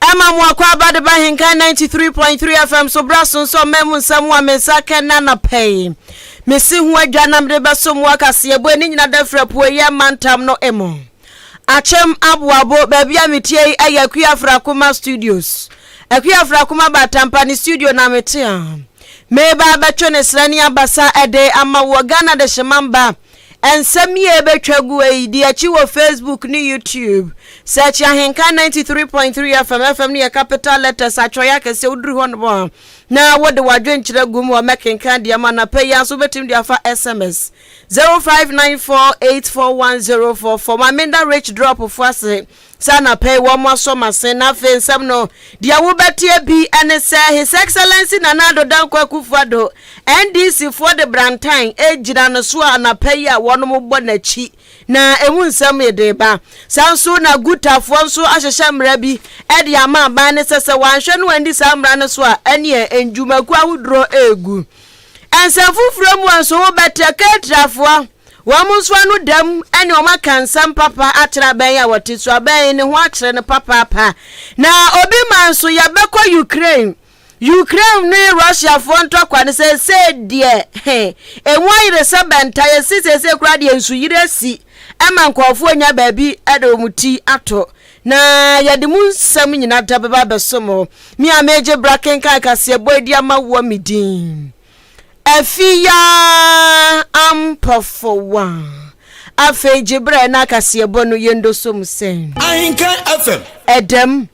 Ɛma mo akɔ aba de ba Henkan 93.3 FM so bra sonso ɔma mu nsɛm ho a me nsa kɛ na anɔpɛ yi. Me si ho adwa na mede bɛso mo akaseɛ bo ɛne nyina da firi apueeɛ mantam no emu. Akyem Aboabo, baabi a metie yi ɛyɛ Akua Frakoma Studios. Akua Frakoma ba Atampa ne studio na mete a. Meba abɛtwe ne srɛ ne abasa ɛde ama woɔ Ghana de hyema mba. Nsɛm yi a ɛbɛtwa gu yi di akyi wɔ Facebook ne YouTube. Search Ahenka 93.3 FM, FM no yɛ capital letters atwerɛeɛ akɛseɛ. Woduru hɔ nom a na wode w'adwenkyerɛ gu mu a mɛkenkan deɛ ma anapa yi ara nso wobɛtumi de afa SMS 0594841044 ma meda Rich Drop fo ase Sɛ anapa yi wɔasɔ m'asen na afei nsɛm no deɛ wobɛteɛ bi ne sɛ His Excellency Nana Addo Dankwa Akufo-Addo, NDC foɔ de brantan regyina no so a anapa yi a wɔnom bɔ n'akyi na ɛmu nsɛm yi de reba. Saa nso na Guta foɔ nso ahyehyɛ mmara bi de ama aban no sɛ sɛ wɔanhwɛ no anni saa mmara no so a ɛneɛ nnwumakuo ahodorɔ regu. Nsɛm foforɔ mu nso wobɛtrɛ Keretrafoɔ, wɔn nso ano da mu ne wɔn aka nsɛm papa akyerɛ abɛn yi a wɔte so, abɛn yi ne ho akyerɛ no papaapa. Na obi ma nso yɛbɛkɔ Ukraine. Ukraine ne Russiafoɔ ntɔkwa no seesei deɛ he, emu ayere sɛ bɛnta, yɛse seesei koraa deɛ nsuyiri asi ma nkurɔfoɔ nya baabi de wɔn ti ato. Na yɛde mo nsɛm nyina da bɛba abɛsom hɔ, me a meegye bra kenkan kaseɛbɔ adi ama woɔ me din Afia Ampɔfowa. Afei gye berɛ na kaseɛbɔ no yɛndoso mu sɛn? Ahenkan FM. Ɛdɛm.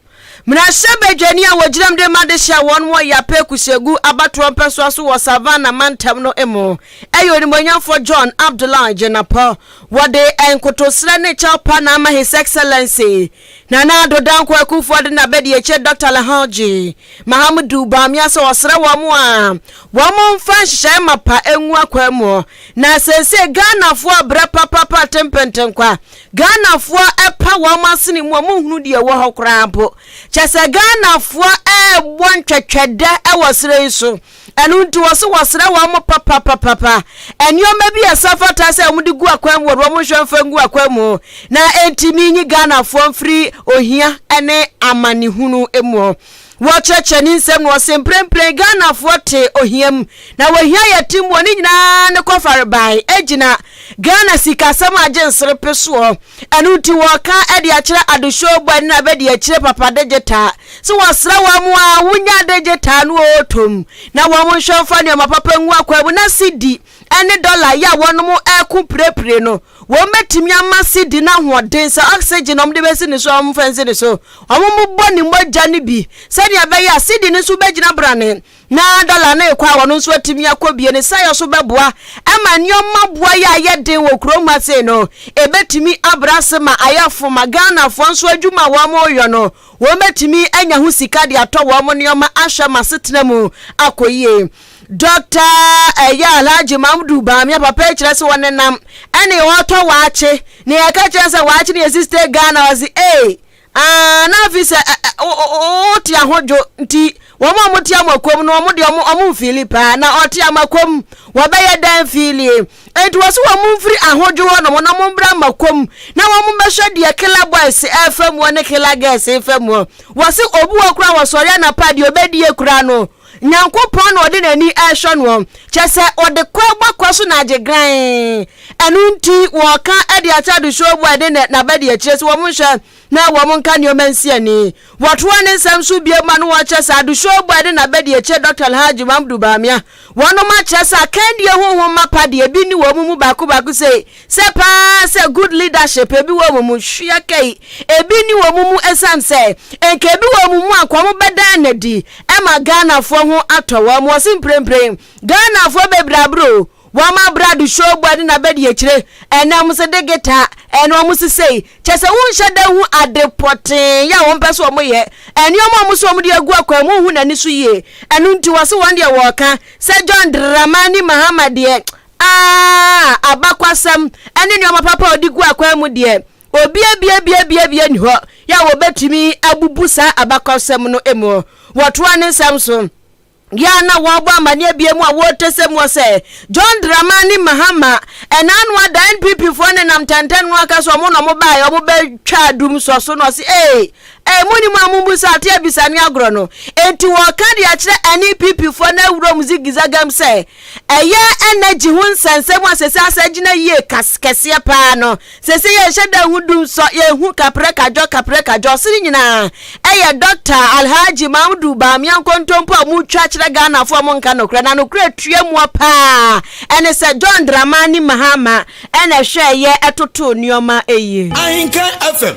Mmarahyɛbadwani a wɔgyinam de ma dehye a wɔn wɔ Yape Kusegu abatoɔ mpɛsoa so wɔ Savannah mantam no mu yɛ Onimonyamfoɔ John Abdullah Jinapor. Wɔde nkotosrɛ ne kyɛw pa na ama His Excellency Nana Addo Dankwa Akufo-Addo n'abadiakyiri Dɔkta Alhaji Mahamudu Bawumia sɛ ɔsrɛ wɔn a wɔmfa nhyehyɛe mapa ngu akwaa mu na seesei Ghanafoɔ rebrɛ papapa atenpentenkwa, Ghanafoɔ repa wɔn asene mu, wɔnhunu deɛ ɛwɔ hɔ koraa mpo. Kyerɛ sɛ Ghanafoɔ rebɔ ntwɛtwɛdɛ wɔ serɛ yi so. Ɛno nti wɔse wɔsrɛ wɔn mo papapapapa nnoɔma bi a ɛsɛ fata sɛ wɔn de gu akwan mu wɔde wɔn nhwɛ mfa ngu akwan mu na ɛntumi nyi Ghanafoɔ mfiri ohia ne amanehunu mu. Wɔkyerɛkyerɛ ne nsɛm no wɔse mprempren Ghanafoɔ te ohia mu na wɔhia yɛ te mu wɔ ne nyinaa ne kɔfarebae agyina Ghana sikasɛm a agye nserepe soɔ. Ɛno nti wɔka de akyerɛ Adehyew bɔ ani na bɛde akyire papa de gye taa. Sɛ wɔsrɛ wɔn a, wonya adagye taa no oo tom, na wɔnhwɛ mfa nneɛma papa ngu akwan mu, na sidi ne dɔla yɛ a wɔnom reko pirepire no, wɔbɛtumi ama sidi no ahoɔden sɛ oxygen a wɔde bɛsi ne so a wɔmfa nsi ne so. Wɔbobɔ ne mogya no bi sɛnea ɛbɛyɛ a sidi no nso bɛgyina brane, na dɔla no rekɔ a wɔn nso atumi akɔ bie no sɛeɛ so bɛboa ma nneɛma boa yɛ a ɛyɛ den wɔ kuro mu ase no, ɛbɛtumi abrɛ ase ma ayɛ fo ma Ghanafoɔ nso adwuma a wɔreyɔ no. Wɔbɛtumi anya ho sika de atɔ wɔn nneɛma ahwɛ ama asetena mu akɔ yie. Dɔkta ɛyɛ Alhaji Mamdu Bamia papa yi kyerɛ sɛ wɔnenam ɛne wɔtɔ waakye na yɛka kyerɛ sɛ waakye ne yɛsi stay Ghana ɔse ee aa na afi sɛ wote ahodwo nti wɔn a wɔte amakom no wɔn deɛ wɔn mfili paa na ɔte amakom wɔbɛyɛ dɛn filie Enti wɔsi wɔn mfiri ahodwo hɔ nom na wɔn mbra makom na wɔn mbɛhwɛ deɛ killer boys ɛɛfa mu hɔ ne killer girls ɛɛfa mu hɔ. Wɔsi obi wɔ kora wɔsɔre anapa deɛ ɔbɛdie kora no Nyankopɔn na ɔde n'ani ɛɛhwɛ noɔ. Kyɛ sɛ ɔde kɔ ɛbɔ kɔ so na agye gran. Ɛno nti wɔɔka ɛde akyɛ adehyoɔ boy ne nɛ n'abadiakyire sɛ wɔn nhwɛ na wɔnka nneɛma nsi ani. Wɔtoaa ne nsɛm so bio ma no wɔkyerɛ sɛ Adesua Obuah ne n'abadiakyire Dɔkta Alhaji Mamudu Bawumia, wɔnom akyerɛ sɛ akandie ho nhoma mapa deɛ ebi nni wɔn mu baako baako sei, sɛ pa ara sɛ good leadership ebi wɔ wɔn mu, hwɛ kɛi, ebi nni wɔn mu ɛsiane sɛ nka ebi wɔ wɔn mu a nka wɔbɛdan no adi ma Ghanafoɔ ho atɔ wɔn. Wɔse mprempren Ghanafoɔ bebree abere o, Wɔma brado showbua ne n'abadiakyire ɛnam nso de guitar ɛne wɔn sesei, kyerɛ sɛ wonhyɛ da nhu ade pɔtee a wɔpɛ sɛ wɔyɛ, nneɛma a wɔn sɛ wɔde agu akwan mu a wonhu n'ani so yie, ɛno nti wɔse wɔn deɛ wɔka sɛ John Dramani Mahama deɛ aah abakwasɛm ɛne nneɛma papa a ɔde gu akwan mu deɛ obiabiabiabiabia nni hɔ a wɔbɛtumi abubu saa abakwasɛm no mu, wɔtoa ne nsɛm so. Yɛ a na wɔrebɔ amanneɛ bea mu a wɔretesɛ mu sɛ John Dramani Mahama, ɛna ano ada NPP foɔ ne nam tɛntɛn no aka sɛ wɔn na wɔn baeɛ wɔn bɛtwa adum nsɔ so na ɔse ee ee mo ni mu a mo mbu sɛ ate abisa ne agorɔ no enti wɔka de akyerɛ NPP foɔ na awurom zigizagam sɛ Ɛyɛ energy ho nsɛnsɛm a sɛ sɛ asɛ gyina yie kas kɛseɛ paa no sɛ sɛ yɛnhyɛ da ho dum sɔ yɛhu kaprɛ kadwɔ kaprɛ kadwɔ so ne nyinaa ɛyɛ Dɔkta Alhaji Mamudu Bawumia nkontompo a ɔmo twa kyerɛ Ghanafoɔ ɔmo nka nokorɛ na nokorɛ tua mua paa ɛne sɛ John Dramani Mahama ɛna ɛhwɛɛyɛ ɛtotoo nnoɔma ɛyie. Ahenkan FM.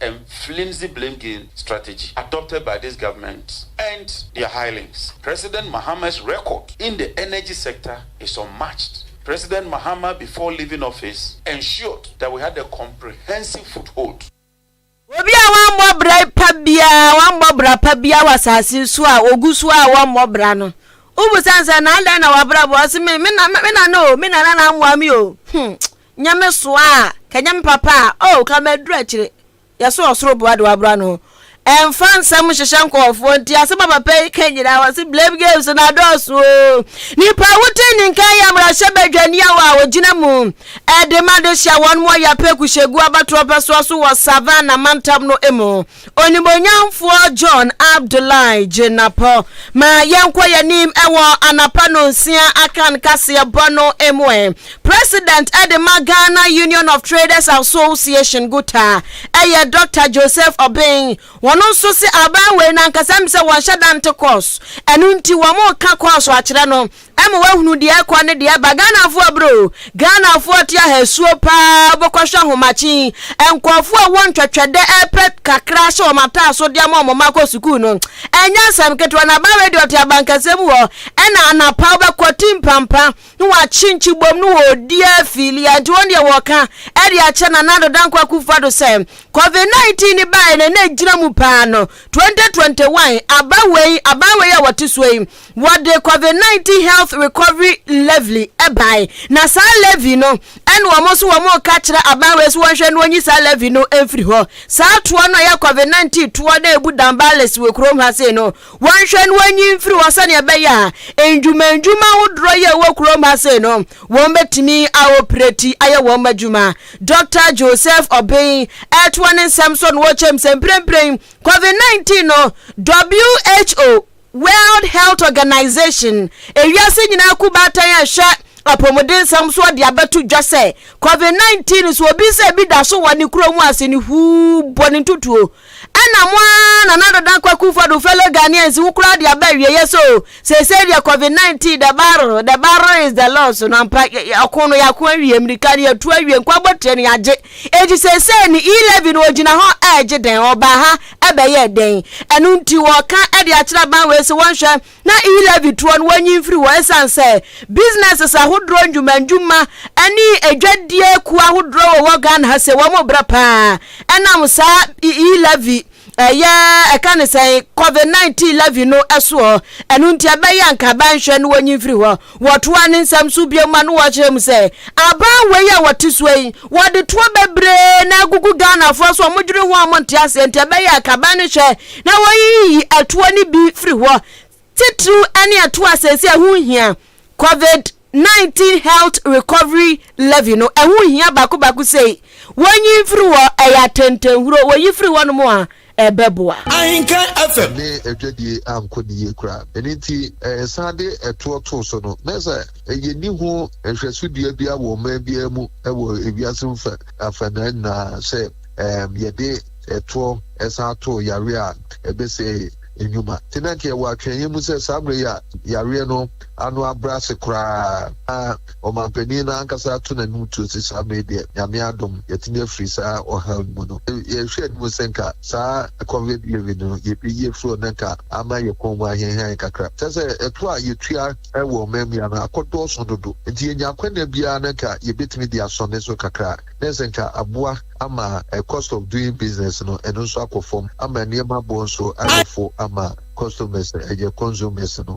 and flimsy blame game strategy adopted by this government and their hirelings. President Mahama's record in the energy sector is unmatched. President Mahama before leaving office ensured that we had a comprehensive foothold. Obi a wammɔ bra pa biara, wammɔ bra pa biara wɔ asase so a ogu so a wɔmmɔ bra no. Wobisa no sɛ, na adɛn na w'abrabɔ? Ɔse, me, me, me nana o, me nana na ammoa me o. Hmm. Nyame soa a, ka Nyame papa a, oh, ka maduru akyire. Yɛso ɔsoro boa de waboro ano. Ɛnfa nsɛm nhyehyɛ nkɔɔfoɔ nti asɛm a papa yi ka nyinaa wɔse blame games na adɔɔso o. Nipa a wote ne nka yɛ mmarahyɛ badwaniya wɔ a wɔgyina mu ɛde ma de hyɛ wɔn mo ɔyapɛ kuhyɛgu abatoɔ pɛsoa so wɔ Savannah mantam no mu. Onimuonyamfoɔ John Abdullahi Jinapɔ ma yɛnkɔ yɛnim ɛwɔ anapa nonsia akan kaseɛ bɔ no mu ɛ. President ɛde ma Ghana Union of Traders Association Guta ɛyɛ Doctor Joseph Obeng. Wɔn nso se aban wei no ankasa nim sɛ wɔnhyɛ da nte kɔɔso, ɛno nti wɔn reka kɔɔso akyerɛ no Ɛma wahunu deɛ ɛkɔ ne deɛ ɛba Ghanafoɔ brɛ o Ghanafoɔ te ahasuo paa Wobɛkɔ hwɛ ahomakyen Nkorɔfoɔ a wɔn twɛtwɛdɛ ɛpɛ kakra ahyɛ wɔn ataaso de ama wɔn mma akɔ sukuu no Ɛnyɛ asɛm ketewa na aba radio te abankɛseɛ mu hɔ Ɛna anapa wobɛkɔ ti mpampa na wakye nkyibom no wɔ ɔdi afili a nti wɔn deɛ wɔka ɛde akyɛ Nana Addo Dankwa Akufo Addo sɛ Covid 19 no baeɛ no ɛna ɛgyina mu paa no 2021 aba wei aban wei a wɔte soɔ yi Wɔde covid nineteen health recovery levy bae, na saa levy no na wɔn nso wɔreka kyerɛ aban wei so wɔnhwɛ no wɔnyi saa levy no mfiri hɔ. Saa toɔ no a ɛyɛ covid nineteen toɔ na ebu Dambalis wɔ kurom ha sei no, wɔnhwɛ no wɔnyi mfiri hɔ sɛnea ɛbɛyɛ a ndwuma ndwuma ahodoɔ yi a ɛwɔ kurom ha sei no wɔn bɛtumi aopereti ayɛ wɔn adwuma. Dɔkta Joseph Obeng ɛretoa ne nsɛm so na ɔkyɛm sɛ mprempren covid nineteen no, WHO. World Health Organization, ewiase nyinaa kuw baatan a ɛhwɛ apɔmudensɛm soɔ de abɛto dwa sɛ Covid 19 so obi sɛ bi da so wɔ ne kuro mu ase no huu bɔ ne ntutuo. Ɛna mo ara Nana Dada Kwaku Fodu fellow Ghanaians wo koraa de aba awieɛ so o, seesei deɛ Covid 19 the battle the battle is the loss no ampa yɛ yɛ ɔko no yɛako awie mmirika no yɛtu awie nkwabotire no yɛagye enti seesei ne E-levy no ɔgyina hɔ ɛregye dɛn ɔbaa ha ɛbɛyɛɛ dɛn? Ɛno nti wɔka de akyerɛ aban wei sɛ wɔnhwɛ na e-levy toɔ no wɔnyi mfiri hɔ ɛsiane sɛ businesses ahodoɔ nnwumannwuma ne adwadie kuo ahodoɔ wɔ wɔ Ghana ha sɛ wɔn brɛ paa ɛnam saa e-levy ɛyɛ ɛka ne sɛn covid-19 levy no ɛsoɔ ɛno nti ɛbɛyɛ anka aban nhwɛ no wɔnyi mfiri hɔ Wɔtoaa ne nsɛm so bio ma no wɔ kyerɛ mu sɛ, Aban wei a wɔte soɔ yi, wɔde toɔ bebree na agugu Ghanafoɔ so a wɔdwene ho a wɔnte aseɛ nti ɛbɛyɛ a kaban no hwɛ na wɔyiyi ɛtoɔ no bi firi hɔ titiriw ne ɛtoɔ a seesei ɛho nhia, Covid 19 Health Recovery Levy no ɛho nhia baako baako sei, wɔnyi mfiri hɔ, ɛyɛ atɛntɛnhuro, wɔyi firi hɔnom a ɛbɛboa. Ahenka FM. ne adwadie ankɔ ne yie koraa. Ɛno nti, yɛsan de ɛtoɔ too so no, na sɛ yɛnni ho nhwɛso dua biara wɔ ɔman biara mu wɔ ewiase mu fɛ afanaa nyinaa sɛ yɛde ɛtoɔ san too yareɛ a ɛbɛsɛe nnwuma nti, na anka yɛwɔ atweaeɛ mu sɛ saa mmerɛ yi a yareɛ no ano abrɛ ase koraa na ɔmanpanin no ankasa ato n'anim tuo sɛ saa bere yi deɛ, Nyame adom, yɛatumi afiri saa ɔhaw yi mu no. Yɛhwɛ anim sɛ nka saa Covid wave no, yɛbɛyi afiri hɔ na nka ama yɛn kɔn mu ahiahia yɛn kakra. Kyerɛ sɛ, ɛtoɔ a yɛtua wɔ ɔmanmua no akɔdɔɔso dodo, enti yɛnya akwannya biara na nka yɛbɛtumi de asɔ ne so kakra, na ɛsɛ nka aboa ama cost of doing business no, ɛno nso akɔ fam, ama nneɛma boɔ nso ayɛ fo ama customers, ɛyɛ consumers no.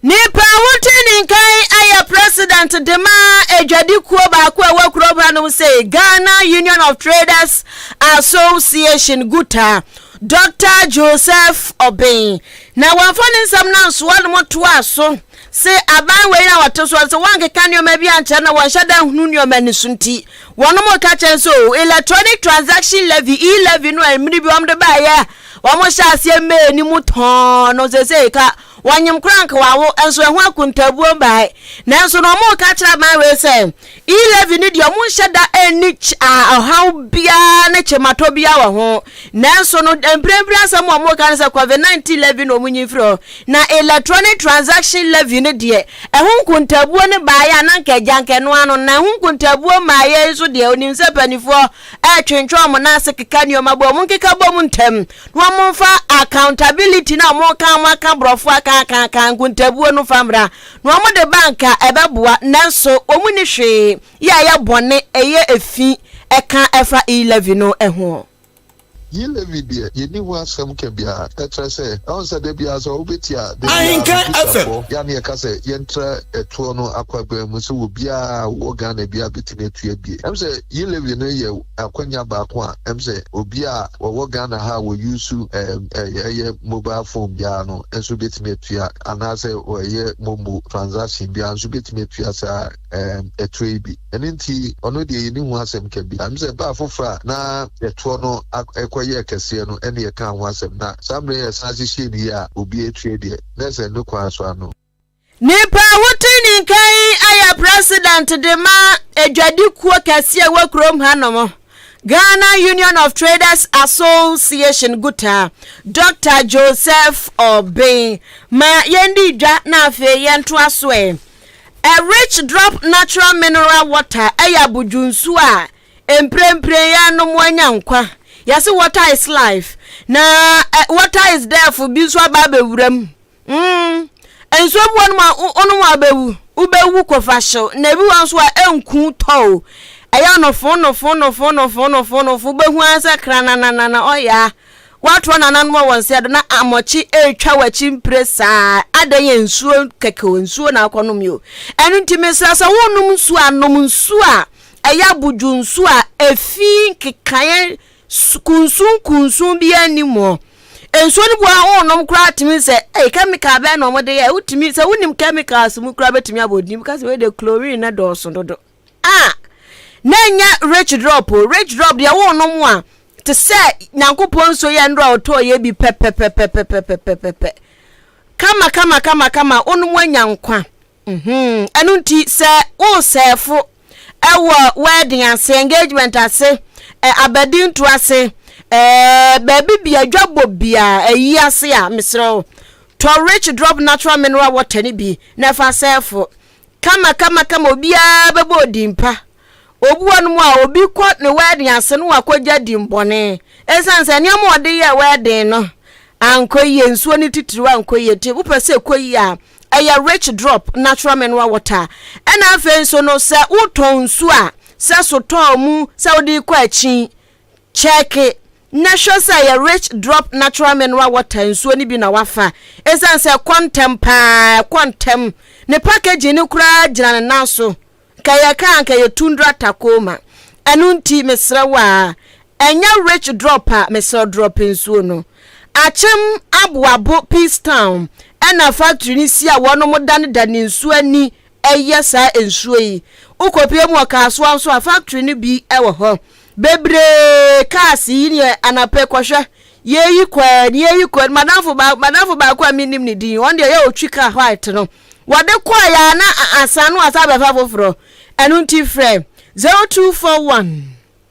Nipa a wotui ne nkan ayɛ president de ma adwadi kuo baako a ɛwɔ kurom hanom se Ghana Union of Traders Association Guta, Dɔkta Joseph Obeng. Na wɔmfa ne nsɛm no ansoa no mu toa so se aban wei a wɔte soɔ no sɛ wɔankeka nneɛma bi ankyerɛ na wɔnhyɛ da nhunu nneɛma no so nti wɔnom reka kyɛn sɛ o electronic transaction levy, e-levy no a mmere bi wɔde baeɛ a Wɔn hyɛ aseɛ mee ne mu tɔɔn no sesei ka wɔnyem koraa nka wawo nso ɛho akontaabuo mbae nanso no wɔn ka kyerɛ aban wei sɛ E-levy no deɛ wɔn nhyɛ da nni ɔhaw biara ne kyematɔ biara wɔ ho nanso no mprempren asɛm a wɔn ka no sɛ COVID-19 levy na wɔn nyi mfiri hɔ na electronic transaction levy no deɛ ɛho nkontaabuo no baeɛ a na nka agya nka ɛno ano na ɛho nkontaabuo mmaeɛ nso deɛ onim sɛ mpanimfoɔ ɛretwentwɛn wɔn nan ase keka nneɛma bom, wɔn nkeka bom ntɛm, na wɔn mfa accountability na wɔn ka wɔn aka borɔfo aka aka aka nkontabuo no fa mmra, na wɔn de ba nka ɛbɛboa, nanso wɔn mu ni hwee yɛ ɛyɛ bɔne, ɛyɛ efi ɛka ɛfa E-levy no ho. Yi Levi deɛ, yɛnni ho asɛm ka biara. Ɛkyerɛ sɛ, ɛho sɛ da biara sɛ wobɛtia da biara no Twitter-foɔ yɛ a ne yɛka sɛ yɛntra ɛtoɔ no akwaguan mu sɛ obiara a ɔwɔ Ghana biara bɛtumi atua bi. Ɛm sɛ Yi Levi no yɛ akwanya baako a ɛm sɛ obiara a ɔwɔ Ghana ha a ɔyuusu ɛyɛ mobile phone biara no nso bɛtumi atua anaasɛ ɔyɛ momo transaction biara nso bɛtumi atua saa Ɛɛm, ɛtoɔ yi bi. Ɛno nti, ɔno deɛ yɛnni ho asɛm ka bi. Ɛwom sɛ baa foforɔ a na ɛtoɔ no ak, kɔyɛɛ kɛseɛ no, ɛnna yɛkaa ho asɛm, na saa mmerɛ yi a yɛsan ahyehyɛɛ no yie a obiara atua deɛ, na ɛsɛ ne kwan so ano. Nipa a wotui ne nka yi ayɛ president de ma adwadikuo kɛseɛ a ɛwɔ kurom hanom, Ghana Union of Traders Association Gutaa, Doctor Joseph Obeng. Ma yɛndi dwa na afei yɛntoa so ɛ. A rich drop natural mineral water yɛ abodwo nsuo a mprempren yɛrenom anya nkwa. Yɛse water is life na eh, water is death bi nso aba abɛwura mu. Mm. Nsuo bi wɔnom a wonom a wobɛwu, wobɛwu kɔfa hyew na ebi wɔ nso a ɛnku tɔw. Ɛyɛ ɔnofo nofo nofo nofo nofo nofo wobɛhu ara sɛ kranananana ɔyaa Woatoa nananom wɔ wo nsa do na amɔkye retwa w'akyi mpire saa adɛn yɛ nsuo kɛkɛ o nsuo na akɔ nom yi o ɛno nti mesra sɛ wonom nsuo a nom nsuo a ɛyɛ abodwo nsuo a efi nkekaeɛ kunsun kunsun bi anim o nsuo no bi wɔ wonom koraa tumi sɛ ɛyɛ chemical bɛn na wɔde yɛ wotumi sɛ wonim chemicals mu koraa bɛtumi abɔ din bi ka sɛ wei de chlorine na dɔɔso dodo a na ɛnyɛ rich drop o rich drop deɛ wonom a te sɛ nyankopɔn nsuo yɛ nnora a ɔtɔɔ yɛ bi pɛpɛpɛpɛpɛpɛpɛpɛ kama kama kama kama wonom anya nkwa mhm. ɛno nti sɛ woresɛɛfo ɛwɔ wedding ase engagement ase ɛ abadinto ase ɛɛ baabi bia dwabɔ bia ɛyi ase a mesrɛ wo tɔ rich drop natural mineral water no bi na ɛfa sɛɛfo Kamakamakama obiara bɛbɔ odin pa. Obi wɔ no mu a, obi kɔ ne wɛɛden ase no wakɔgya din bɔne. Ɛsiane sɛ nneɛma a ɔde yɛɛ wɛɛden no ankɔ yie, nsuo no titiriw ankɔ yie nti, wopɛ sɛ ɛkɔ yie a, ɛyɛ rich drop, natural mineral water. Ɛna afei nso no, sɛ wotɔn nsuo a, sɛ sotɔɔ mu, sɛ wode kɔ akyin, Kyɛke na hwɛ sɛ ɛyɛ Rich Drop Natural Mineral Water nsuo no bi na woafa. Ɛsiane sɛ ɛkɔ ntɛm pa ara, ɛkɔ ntɛm, ne packaging no koraa gyina ne nan so, nka yɛka a anka ɛyɛ Tundra Tacoma. Ɛno nti, mesrɛ wo a, ɛnyɛ Rich Drop a, mesrɛ wo drop nsuo no. Akyem Aboabo Peace Town ɛna factory no si a wɔnom da no da ne nsuo ani ɛyɛ saa nsuo yi. Wokɔpue mu wɔ Kasoa nso a, factory no bi wɔ hɔ. Bebree cars yi neɛ anapɛ kɔhwɛ. Yɛyi kɔɛ ne yɛyi kɔɛ. Madamfo baako madamfo baako a menim ne din ɔno deɛ yɛ ɔtwi car white no. Wɔde kɔɛ yɛ a na asan no asan bɛfa foforɔ. Ɛno nti frɛ 0241.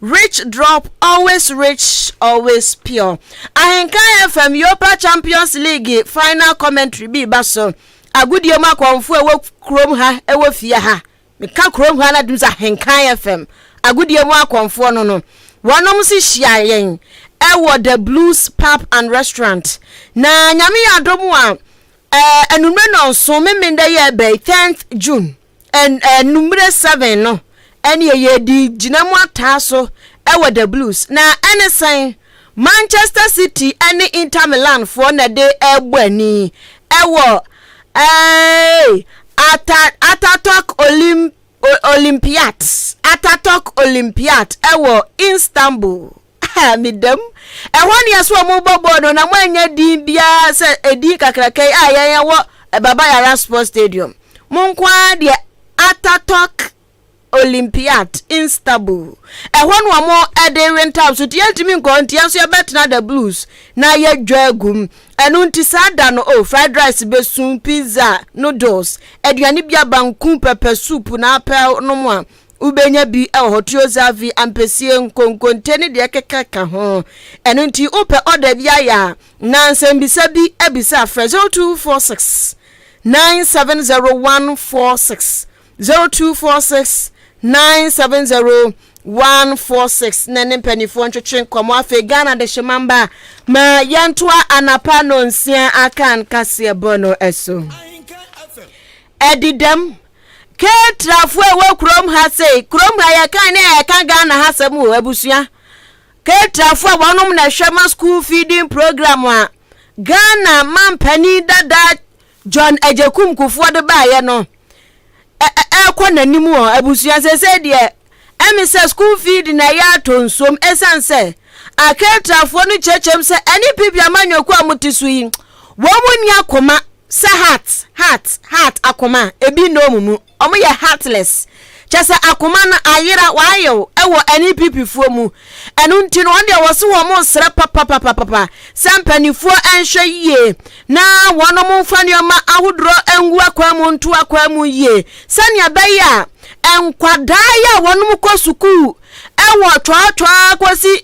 Rich drop always rich always pure Ahenka FM Europa Champions League final commentary bi ba so agodie mu akɔmfo a ɛwɔ kurom ha ɛwɔ fie ha meka kurom ha na dum sɛ Ahenka FM agodie mu akɔmfoɔ no no wɔnom si hyia yɛn ɛwɔ the blues pub and restaurant na nyame yɛ adom a ɛɛ anumere nɔnso memenda yɛ bɛyi 10th June Anwummere seven no, ɛnneɛ yɛdi gyina mu ataa so wɔ the Blues. Na ɛne sɛn? Manchester City ne Inter Milan foɔ na ɛde ɛrebɔ ani wɔ ɛɛ Ata Ataturk Olim Olympiat Ataturk Olympiat ɛwɔ Istanbul. Medam. Ɛhɔ nea sɛ wɔn bɔ bɔɔl no na mo anya din biara sɛ edin kakraka yi a yɛn wɔ Baba Yara Sports Stadium. Mo nko ara deɛ Ataturk Olympiad Istanbul. Ɛhɔ na wɔn de we ntam so nti yɛntumi nkɔ hɔ nti yɛn nso yɛbɛtena the blues na yɛdwa agum. Ɛno nti saa da no oh fried rice besu, pizza, noodles, aduane bi aba nku, pepper soup na apɛw nom a Wobenya bi wɔ hɔ, Tiozavy, ampesie, nkonkonte ne deɛ ɛkeka ka ho. Ɛno nti wopɛ order bi ayɛ a, na nsɛmbisa bi bisa a, frɛ 0246 970146, 0246 970146 na ne mpanimfoɔ ntwetwe nkɔmmɔ. Afei Ghana Adehyemma mma ma yɛntoa anapa nonsia akan kaseɛbɔ no so. Ɛdi dɛm. Ketrafoɔ a ɛwɔ kurom ha sei, kurom ha yɛka ne a yɛka Ghana ha sɛm wɔ abusua. Ketrafoɔ a wɔnom na ɛhwɛ ma school feeding program a Ghana mampanin dada John Agyekum Kufuor de baeɛ no ɛkɔ n'anim wɔ abusua sɛsɛ deɛ Ɛne sɛ sukuu fee de na ɛyɛ atɔ nsuom ɛsiane sɛ Aketrafoɔ no kyerɛkyerɛ mu sɛ ɛne PP amanyɔkuo a mote so yi, wɔn nni akoma sɛ heart, heart, heart, akoma, ebi nna wɔn mu, wɔn yɛ heartless, kyerɛ sɛ akoma no ayera, wayew, wɔ ɛne PP foɔ mu, ɛno nti no wɔn deɛ wɔse wɔn resrɛ papapapapa sɛ mpaninfoɔ nhwɛ yie na wɔnom mfa nneɛma ahodorɔ ngu akwan mu nto akwan mu yie sɛnea ɛbɛyɛ a Nkwadaa yi a wɔkɔ sukuu wɔ twɔtwɔɔ kɔsi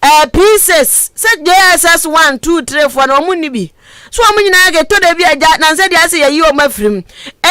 ɛɛ eh, pieces sɛ JSS one two three four na wɔn ni bi so wɔn nyinaa kɛtɔ da bi agya nansɛ deɛ asɛ yɛyi wɔn afiri mu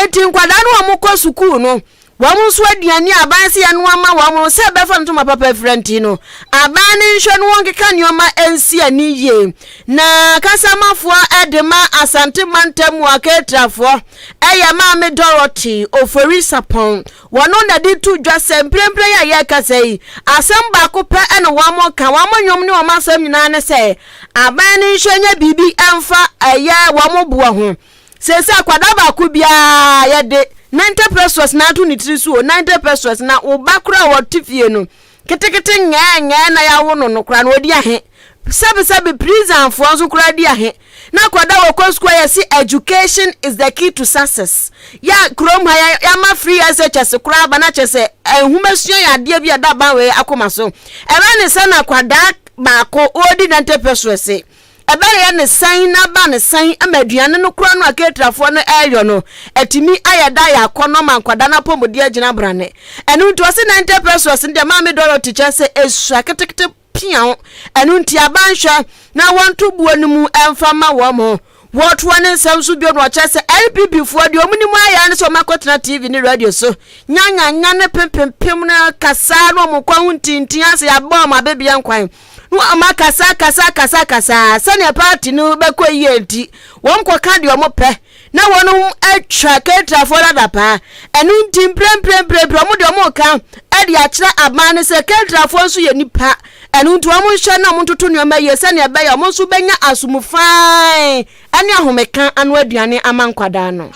eti nkwadaa no wɔn kɔ sukuu no wɔn nso aduane a aban se yɛn ama wɔn no sɛ ɛbɛfa ntoma papa afira nti no aban ne nhwɛ no wɔn keka nneɛma nsi ani yie na kasamafoɔ de ma asante mantam mu aketrafoɔ. Ɛyɛ Maame Dorothy Ofori-Sarpong. Wɔn na de to dwa sɛ mprempren a yɛrekasa yi, asɛm baako pɛ na wɔka, wɔn nnwom ne wɔn asɛm nyinaa ne sɛ, aban no nhyɛ nyɛ biribi mfa ɛyɛ wɔn boɔ ho. Seesei akwadaa baako biara yɛde 90 pesewas na ato ne tiri so o, 90 pesewas, na wo ba koraa a ɔte fie no, Ketekete ngɛɛngɛɛ na yɛawo no no koraa no ɔdi ahe? Sɛbesɛbe prisonfoɔ nso koraa di ahe? Na akwadaa a wɔkɔ sukuu a yɛse education is the key to success yɛ a kurom ha yɛama free SHS koraa aba no akyerɛ sɛ nhomasua yɛ adeɛ bi a ɛda aban wei akoma so. Ɛbɛyɛ ne sɛ na akwadaa baako ɔredi dental pessoa se ɛbɛyɛ no sɛn na aba no sɛn ma aduane no kora no a caterfoɔ no ɛreyɔ no atumi ayɛ da ayɛ akɔnnɔ ma nkwadaa no apɔmuden agyina brane. Ɛno nti ɔse na Enter Precious no deɛ Maame Dorothy kyerɛ sɛ ɛsua ketekete piaw, ɛno nti aba nhwɛ na wɔnto buo no mu ɛmfa mma wɔn. Wɔtoa ne nsɛm so bio na ɔkyerɛ sɛ NPP foɔ deɛ wɔn nim ayɛ ara ne sɛ wɔn akɔtena TV ne radio so nyanyanya ne pempempem no kasaa na wɔn nkwa ho ntintin ase yɛabɔ wɔn abɛbia nkwan. na wɔakasakasakasakasaa sɛnea party no bɛkɔ yie nti wɔkɔka deɛ wɔpɛ na wɔn atwa cateranfoɔ no adapaa ɛno nti mprɛmprɛmprɛmprɛ wɔn deɛ wɔka de akyerɛ aban no sɛ cateranfoɔ nso yɛ nipa ɛno nti wɔn nhyɛ na wɔn ntoto nneɛma yie sɛnea ɛbɛyɛ wɔn nso bɛnya asom fine ɛne ahomeka ano aduane ama nkwadaa no.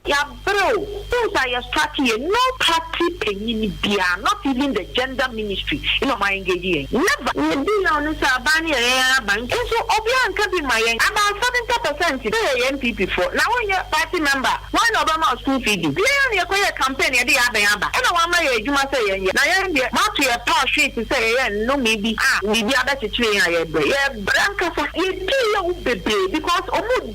Yɛabrɛ o, wohu sɛ ayɛ strike yɛ, no party panyin biara, not even the gender ministry na ɔmo a engage yɛn, never. Nea edi yaw ne sɛ aban no yɛ yɛn ara aban, nso obiara anka bi mma yɛn, about seventy percent sɛ yɛyɛ NPP foɔ, na wonyɛ party member a, why na ɔbɛma wo school fee di? Biara na yɛkɔyɛɛ campaign na yɛde yɛn abɛn aba, ɛna wɔama yɛn adwuma sɛ yɛnyɛ, na yɛn deɛ moato yɛn paa hwee te sɛ yɛyɛ nnome bi a biribi abɛkyekyere yɛn a yɛbrɛ, yɛbrɛ ankasa. Yɛdii yaw bebree because ɔmo.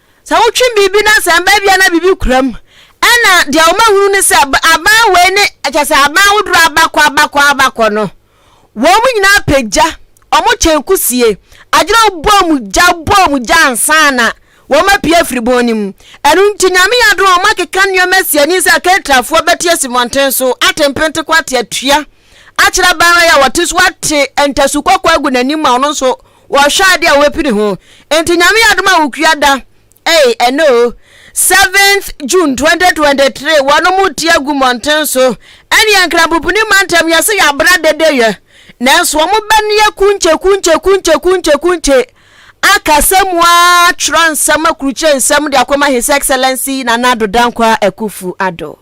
Sɛ wotwe biribi na sɛ mbaa bi anaa biribi kura mu na deɛ wɔahunu ne sɛ aban wei ne kyɛ sɛ aban ahodoɔ abakɔ abakɔ abakɔ no, wɔn nyinaa pɛ gya, wɔn kyɛn kusie, agyina bɔ wɔn gya bɔ wɔn gya ansa na wɔn apue afiri bɔn no mu. Ɛno nti nyame yɛ adom a wɔn akeka nneɛma asi ani sɛ Ketrafoɔ bɛte asi mmɔnten so ate mpente ko ate atua akyerɛ aban wei a wɔte so ate ntasu kɔkɔɔ agu n'anim a ɔno nso Wɔhwɛ ade a wobɛpini ho. Enti Nyame yɛ adom a wo kua da ei ɛnɛ o, seventh June twenty twenty three, wɔnom ti agu mmɔnten so ɛneɛ Nkrampopuni mantam yɛse yɛabra dede yɛ nanso wɔn bɛneɛ kunkye kunkye kunkye kunkye kunkye akasa mu aa twerɛ nsɛm akurukyire nsɛm de akɔma His Excellency Nana Addo Dankwa Akuffo Addo.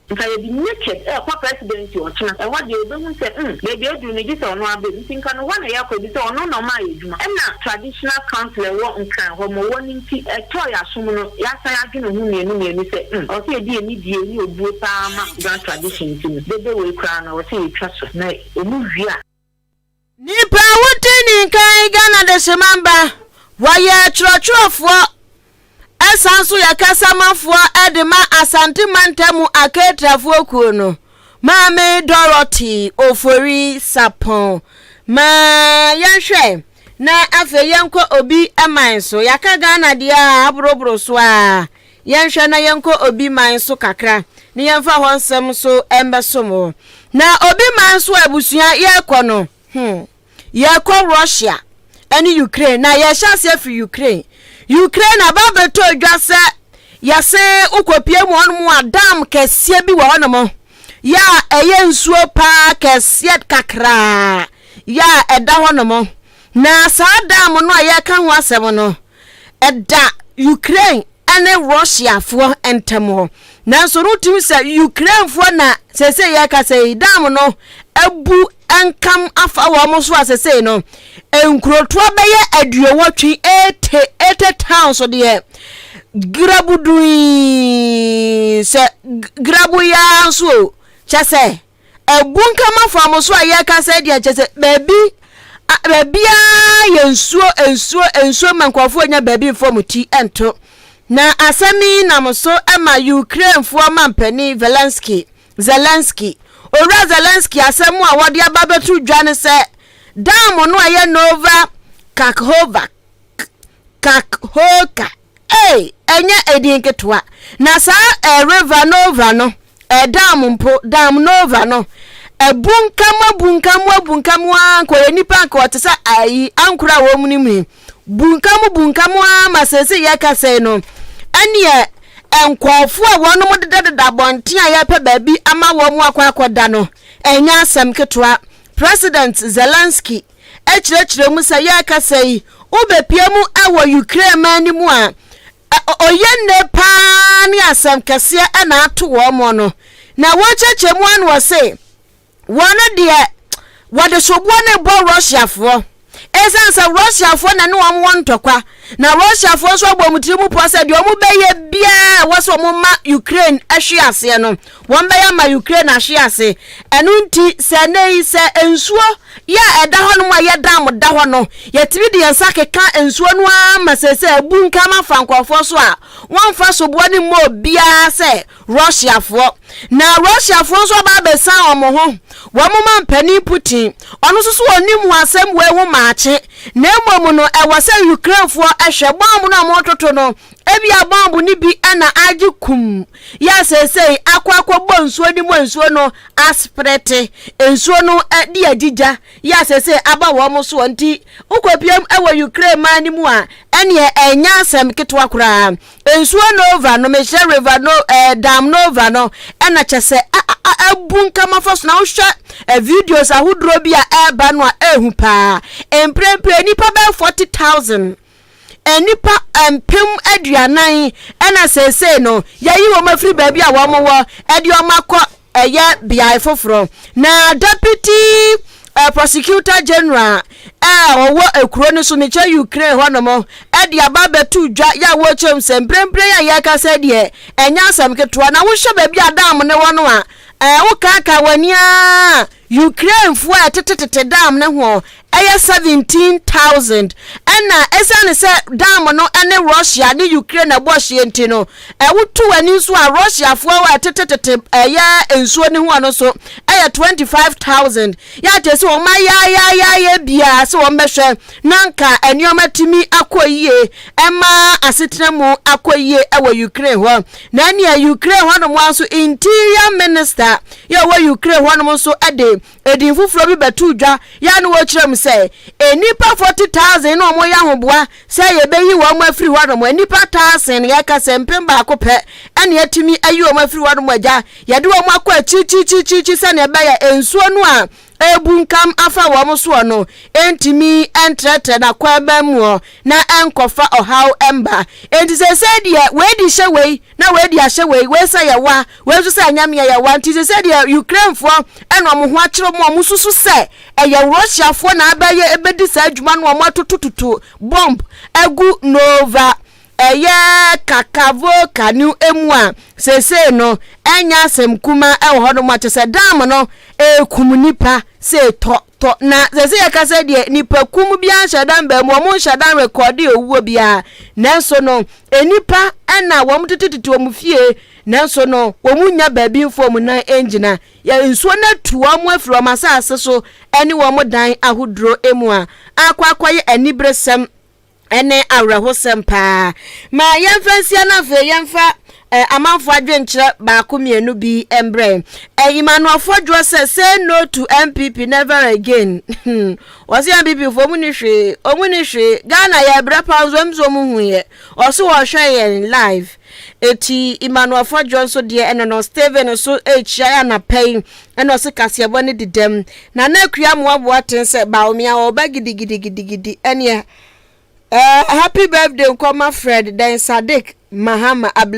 Nka yɛde naked rekɔ presidency ɔkyena, ɛhɔ deɛ ɔbɛhu sɛ mm baabi aduru no gyesɛ ɔno ara bɛm, nti nka no hɔ na yɛkɔ ɛfisɛ ɔno na ɔmaa yɛ adwuma, ɛna traditional council ɛwɔ nkran hɔ ma ɔwɔ no nti ɛtɔɔ yɛ asom no yɛasan adwene ho mmienu mmienu sɛ mm ɔwɔ sɛ yɛde anidie ne obuo paa ma Ga tradition nti no dede wei koraa no ɔwɔ sɛ yɛtwa so na ɔmu wie a Nyimpa a wodzi ne nkan yɛ Ghana Dehyemanba. Wɔyɛ kyerɛkyerɛfoɔ ɛsan nso yɛ kasamafoɔ de ma Asante Mantamu Aketrafoɔ kuo no. Maame Dorothy Ofori Sapon. Ma yɛnhwɛ na afei yɛnkɔ obi man so. Yɛaka Ghana deɛ a aboroboro so ara. Yɛnhwɛ na yɛnkɔ obi man so kakra na yɛmfa hɔ nsɛm nso mmɛsom wo. Na obi man so abusua yɛrekɔ no, hmm, yɛrekɔ Russia ne Ukraine na yɛhyɛ aseɛ firi Ukraine. Ukraine na ba bɛtɔ dwa sɛ yɛse wokɔpie mu hɔnom a dam kɛseɛ bi wɔ hɔnom yɛ a ɛyɛ nsuo paa kɛseɛ kakraa yɛ a ɛda hɔnom. Na saa dam no a yɛreka ho asɛm no, ɛda Ukraine ne Russiafoɔ ntam hɔ. Nanso no tumi sɛ Ukrainefoɔ na sesei yɛrekasa yi, dam no abu nkam afa wɔn so a sesei no, nkurotoɔ bɛyɛ aduowɔtwe, ete, ete towns deɛ, grabu dui, sɛ grabu yaa nso o, kyɛ sɛ. Abunkam afɔamuso a yɛreka sɛ deɛ kyɛ sɛ baabi baabiara yɛ nsuo nsuo nsuo ma nkurɔfoɔ nya baabi mfa wɔn ti nto na asɛm yi nam so ma Ukrainefoɔ mampanin Zelensky Zelensky owura Zelensky asɛm a wɔde aba bɛto dwa ne sɛ dam no a ɛyɛ Nova Kakhovka Kakhoka Ei, ɛnyɛ edin ketewa! Na saa eh, River Nova no, eh, dam mpo, dam Nova no, abunkam, abunkam, abunkam ara, nka ɔyɛ nipa, nka ɔte sɛ ayi, ankora a wɔn mu yi, bunkam, bunkam ara ma sɛsi yɛka sɛi no, ɛneɛ nkɔɔfoɔ a wɔn mo dedadeda abɔnten a yɛpɛ baabi ama wɔn akɔ akɔda no, ɛnyɛ asɛm ketewa. President Zelensky. kyerɛkyerɛ mu sɛ yɛreka sɛ yi wobɛpia mu wɔ Ukraine man no mu a ɔyɛ nne paa ne asɛm kɛseɛ na ato wɔn mo no na wɔkyɛkyɛ mu ano wɔ se wɔn deɛ wɔde soboɔ ne bɔ Russiafoɔ ɛsiane sɛ Russiafoɔ na ne wɔn wɔ ntɔkwa na Russiafoɔ nso abɔ wɔn tiri mu pɔ sɛ deɛ wɔn bɛyɛ biara wɔ sɛ wɔn ma Ukraine ahwe aseɛ no Wɔbɛyɛ ama Ukraine ahwe ase. Ɛno nti, sɛ ɛnnɛ yi, sɛ nsuo yɛ a ɛda hɔnom a ɛyɛ dam da hɔ no, yɛtumi de yɛn nsa keka nsuo no ara ma seesei abunkam afa nkurɔfoɔ so a wɔmfa soboɔ no mmɔ obiara sɛ Russiafoɔ. Na Russiafoɔ nso aba abɛsian wɔn ho, wɔn mampanin Putin, ɔno nso so ɔnnim ho asɛm wei ho maakye, na mmom no ɛwɔ sɛ Ukrainefoɔ hwɛ bɔmb no a wɔretoto no, ebia bɔmb no bi na agye kum yɛ a seesei akɔ akɔbɔ nsuo no mu a nsuo no asprɛte, nsuo no de adi gya yɛ a seesei aba wɔn soɔ nti wokɔpiam wɔ Ukraine man no mu a, ɛneɛ ɛnyɛ asɛm ketewa koraa. Nsuo Nova no, mehyɛ River no, eh, Dam Nova no, ɛna kyɛ sɛ abu nkama fa so na wohwɛ eh, videos ahodoɔ bi a ɛreba no a ɛhu paa. Mprempren nnipa bɛyɛ 40,000 nnipa mpem aduanan na seesei no yɛyi wɔn afiri baabi a wɔn wɔ de wɔn akɔ ɛyɛ beae foforɔ na deputy uh, prosecutor general a ɔwɔ ekuro no so mekyɛ ukraine hɔnom de aba abɛto dwa yɛ a wɔkyɛm sɛ mprempren a yɛrekasa deɛ ɛnyɛ asɛm ketewa na wohwɛ baabi a dam no wɔ no a ɛɛ wokaaka w'ani a Ukrainefoɔ a ɛtete tete dam no ho yɛ 17,000 ɛna ɛsiane sɛ dam no ne Russia ne Ukraine na ɛbɔ hyeɛ nti no, ɛwoto wɔn ani nso a Russiafoɔ a ɛtete tete ɛyɛ nsuo no ho no nso yɛ 25,000. Yɛ akyerɛ sɛ wɔn ayaayaayɛ biara sɛ wɔn bɛhwɛ na nka nneɛma tumi akɔ yie ɛma asetena mu akɔ yie wɔ Ukraine hɔ. Na nea Ukraine hɔnom ara nso interior minister yɛ ɔwɔ Ukraine hɔnom nso de edin foforɔ bi bɛtoo dwa yɛ na wɔkyerɛ mu sɛ nnipa 40,000 na wɔyɛ ahoboa sɛ yɛbɛyi wɔn afiri hɔnom. Nnipa taasen, yɛka sɛ mpem baako pɛ na yɛatumi ayi wɔn afiri hɔnom agya. Yɛde wɔn akɔ akyirikyirikyirikyiri sɛnea ɛbɛyɛ nsuo no a abunkam afa wɔn soɔ no ntumi ntrɛtrɛ n'akwanman muɔ na ɛnkɔfa ɔhaw mma. Enti seesei deɛ wei de hyɛ wei na wei de ahyɛ wei, wei sɛ yɛwa, wei nso sɛ ɛnyɛ meɛ yɛwa. Nti seesei deɛ Ukrainefoɔ na wɔn ho akyere wɔn a wɔsusu sɛ ɛyɛ Russiafoɔ na abɛyɛ bɛdi saa adwuma no wɔatotototo bɔmb agu Nova Ɛyɛ Kakavoo Kanu mu a, seesei no ɛnyɛ asɛm kumaa ɛwɔ hɔ nom a kyɛsɛ dam no ɛɛkum nnipa sei tɔ tɔ na seesei yɛka sɛ deɛ nnipa kum biara nhyɛ dam baa mu wɔn nhyɛ dam rekɔɔde owuo biara nanso no nnipa ɛna wɔn tete tete wɔn fie nanso no wɔn nya baabi mfo wɔn nan ɛngyina yɛ nsuo no atu wɔn afiri wɔn asase so ɛne wɔn dan ahoduro mu a akɔ akɔyɛ aniberesɛm ɛne awerɛhosɛm paa. Ma yɛmfa nsia na afei yɛmfa eh, amanfoɔ adwenkyerɛ baako mmienu bi mbrɛ. Eh, Emmanuel Fodwoɔ sɛ say no to MPP never again. Wɔse MPP foɔ mu ni hwee, ɔmu ni hwee. Ghana yɛ brɛ paa nso ɛmu sɛ ɔmu hu yɛ. Ɔso wɔhwɛ yɛn live. Eti Emmanuel Fɔdwoɔ nso deɛ ɛno no Stephen nso rekyia anapa yi ɛna ɔse kaseɛbɔ no di dɛm na na Akua Amoaboa aten sɛ Bawumia ɔreba gidigidigidigidi ɛneɛ ɛɛ happy birthday nkɔma Fred, Dɛn Sadiq, Mahama, Ablakyi.